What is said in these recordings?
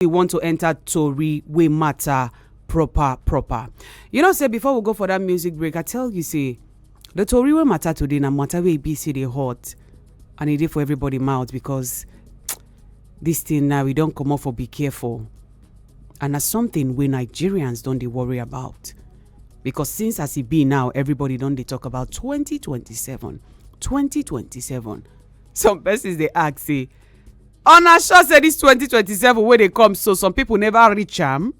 we want to enter tori wey matter proper proper you know say before we go for that music break i tell you say the tori wey matter today na matter wey be say dey hot and e dey for everybody mouth because this thing now we don comot for be careful and na something wey nigerians don dey worry about because since as e be now everybody don dey talk about 2027 2027 some persons dey ask say una sure say this 2027 wey dey come so some people never reach am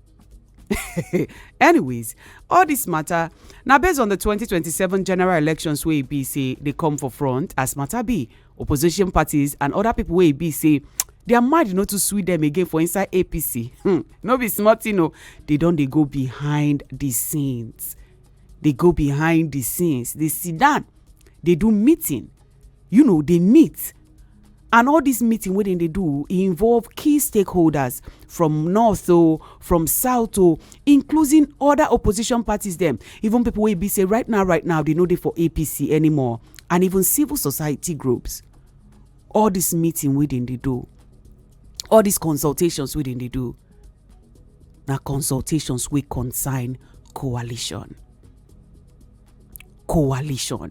anyways all this matter na based on the 2027 general elections wey e be say dey come for front as matter be opposition parties and other people wey e be say their mind no too sweet them again for inside apc hmm no be small thing o they don dey go behind the scenes dey go behind the scenes dey sit down dey do meeting you know dey meet and all dis meeting wey dem dey do e involve key stakeholders from north o from south o including other opposition parties dem even pipo wey be say right now right now dey no dey for apc anymore and even civil society groups all dis meeting wey dem dey do all dis consultations wey dem dey do na consultations wey concern coalition coalition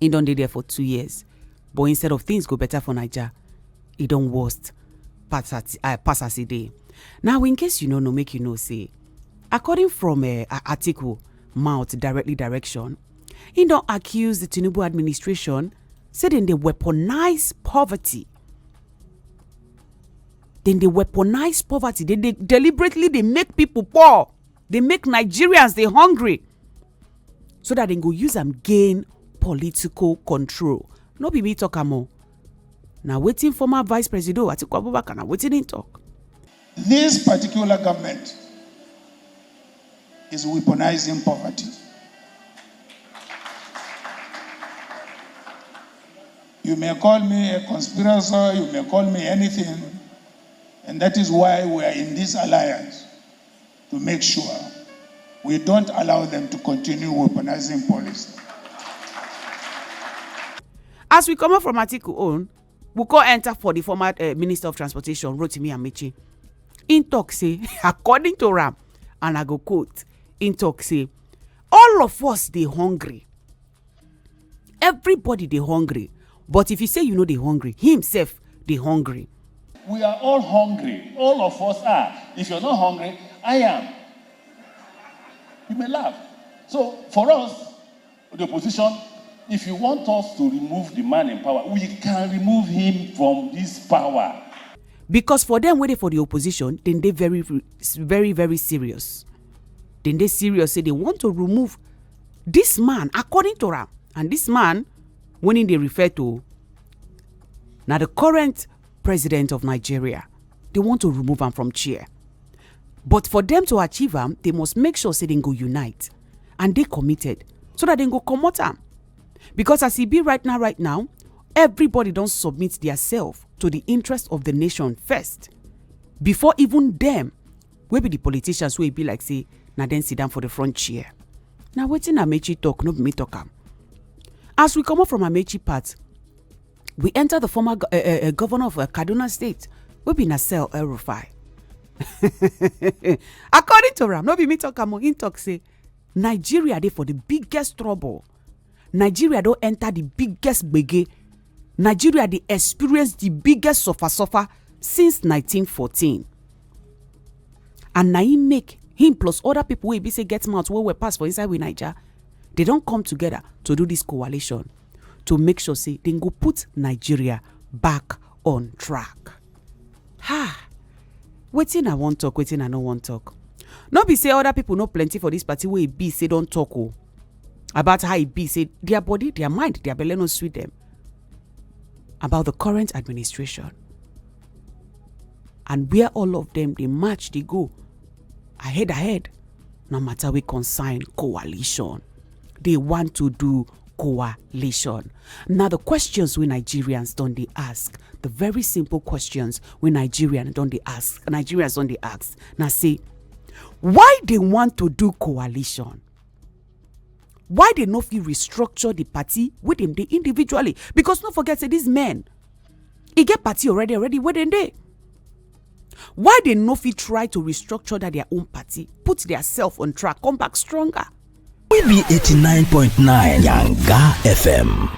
He don dey there for two years, but instead of things go better for Naija, e don worst pass as uh, pass as e dey. Now, in case you no know, make you know say, according from uh, Atiku mouth directly direction, he don accuse the Tinubu administration say dem dey weaponize poverty. Dem dey weaponize poverty. Dem dey deliberately dey make people poor. dey make nigerians dey hungry so dat dem go use am gain political control no be me talk am o na wetin former vice presido atiku abubakar na wetin im talk. This particular government is weaponizing poverty. You may call me a conspirator, you may call me anything, and that is why we are in this alliance. to make sure we don't allow them to continue weaponizing police. as we comot from atiku own we come enter for the former uh, minister of transportation rotimi amechi im tok say according to am and i go quote im tok say all of us dey hungry everybody dey hungry but if you say you no dey hungry him sef dey hungry We are all hungry. All of us are. If you're not hungry, I am. You may laugh. So for us, the opposition, if you want us to remove the man in power, we can remove him from this power. because for dem wey dey for the opposition dem dey very very very serious dem dey serious say they want to remove this man according to am and this man when him dey refer to na the current president of nigeria they want to remove am from chair but for them to achieve am they must make sure say dem go unite and dey committed so that dem go comot am because as e be right now right now everybody don submit their self to the interest of the nation first before even dem wey be di politicians wey e be like say na dem sit down for di front chair na wetin amechi tok no be me tok am as we comot from amechi part we enter the former eh, eh, eh, governor of kaduna state wey be nasel el rufai according to am no be me tok am o him tok say nigeria dey for di biggest trouble nigeria don enter the biggest gbege nigeria dey experience the biggest suffer suffer since 1914 and na im make him plus other people wey be say get mouth well well pass for inside we naija they don come together to do this coalition to make sure say dem go put nigeria back on track ha wetin i wan talk wetin i no wan talk no be say other people no plenty for this party wey e be say don talk o about how e be say their body their mind their belle no sweet them about the current administration and where all of them dey match dey go ahead ahead no matter we concern coalition they want to do coalition now the questions we nigerians don dey ask the very simple questions we nigerians don dey ask nigerians don dey ask na say why they want to do coalition why they no fit restructure the party wey dem dey individually because no forget say these men e get party already already wey dem dey why they no fit try to restructure that their own party put their self on track come back stronger. we be 89.9 yanga fm.